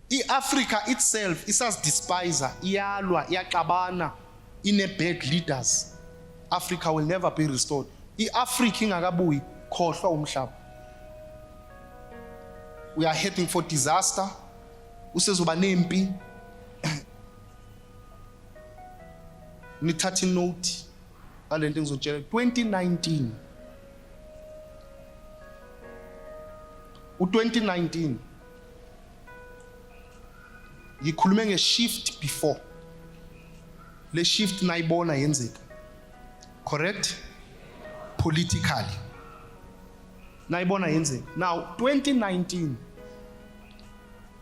i-afrika itself isazidespiser iyalwa iyaxabana ine-bad leaders africa will never be restored i-afrika ingakabuyi khohlwa umhlaba we are heading for disaster usezoba nempi nithathe inote ngale nto ngizotshela 2019 u-2019 ngikhulume nge-shift before le shift nayibona yenzeka correct politically nayibona yenzeka now 2019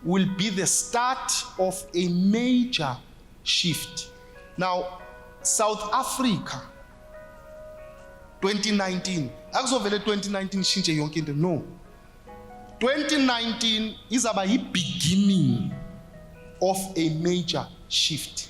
will be the start of a major shift now south africa 2019 akuzovele 2019 ishintshe yonke into no 2019 izaba yi-beginning of a major shift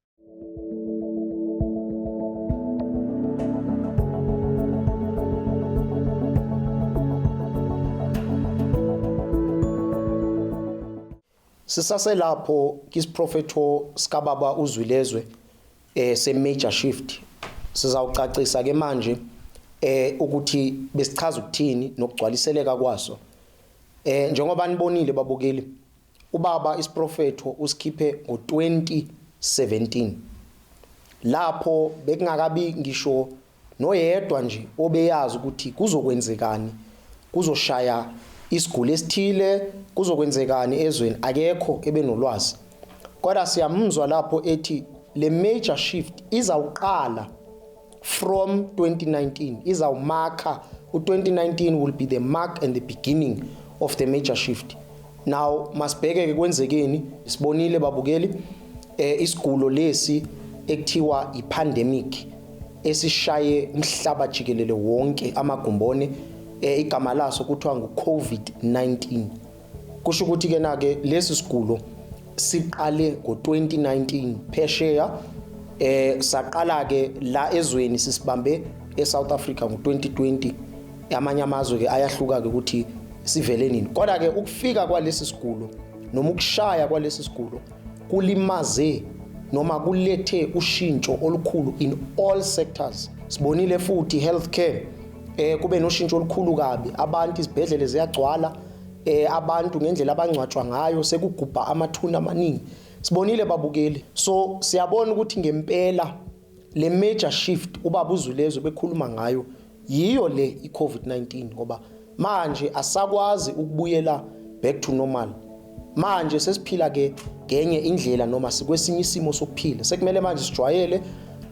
sisaselapho kisiprofetho sikababa uzwilezwe eh se major shift sizawucacisa ke manje eh ukuthi besichaza ukuthini nokugcwaliseleka kwaso eh njengoba nibonile babukeli Ubaba isiprofetho usikhiphe ngo-2017 lapho bekungakabi ngisho noyedwa nje obeyazi ukuthi kuzokwenzekani kuzoshaya isiguli esithile kuzokwenzekani ezweni akekho ebenolwazi kodwa siyamuzwa lapho ethi le major shift izawuqala from 2019 izawumakha u-2019 will be the mark and the beginning of the major shift now masibheke-ke kwenzekeni sibonile babukeli eh, isigulo lesi ekuthiwa ipandemic esishaye umhlaba jikelele wonke amagumbone eh, igama laso kuthiwa ngu-covid-19 Kusho ukuthi ke nake lesi sigulo siqale ngo-2019 phesheya eh saqala ke la ezweni sisibambe eSouth Africa ngo-2020 amanye amazwe ke ayahluka ke ukuthi sivele nini kodwa ke ukufika kwalesi sigulo noma ukushaya kwalesi sigulo kulimaze noma kulethe ushintsho olukhulu in all sectors sibonile futhi healthcare eh kube noshintsho olukhulu kabi abantu izibhedlele ziyagcwala eh abantu ngendlela abangcwatshwa ngayo sekugubha amathuna amaningi sibonile babukeli so siyabona ukuthi ngempela le major shift ubaba uzulezo bekhuluma ngayo yiyo le iCovid-19 ngoba manje asakwazi ukubuyela back to normal manje sesiphila ke ngenye indlela noma sikwesinye isimo sokuphila sekumele manje sijwayele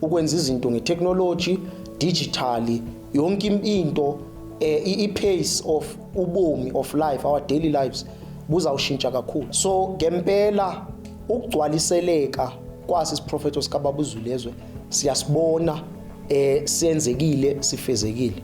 ukwenza izinto ngetechnology digitally yonke into eh, i-pace of ubomi of life our daily lives buzawushintsha kakhulu so ngempela ukugcwaliseleka kwasi siprofetho sikababa uzulezwe siyasibona eh senzekile sifezekile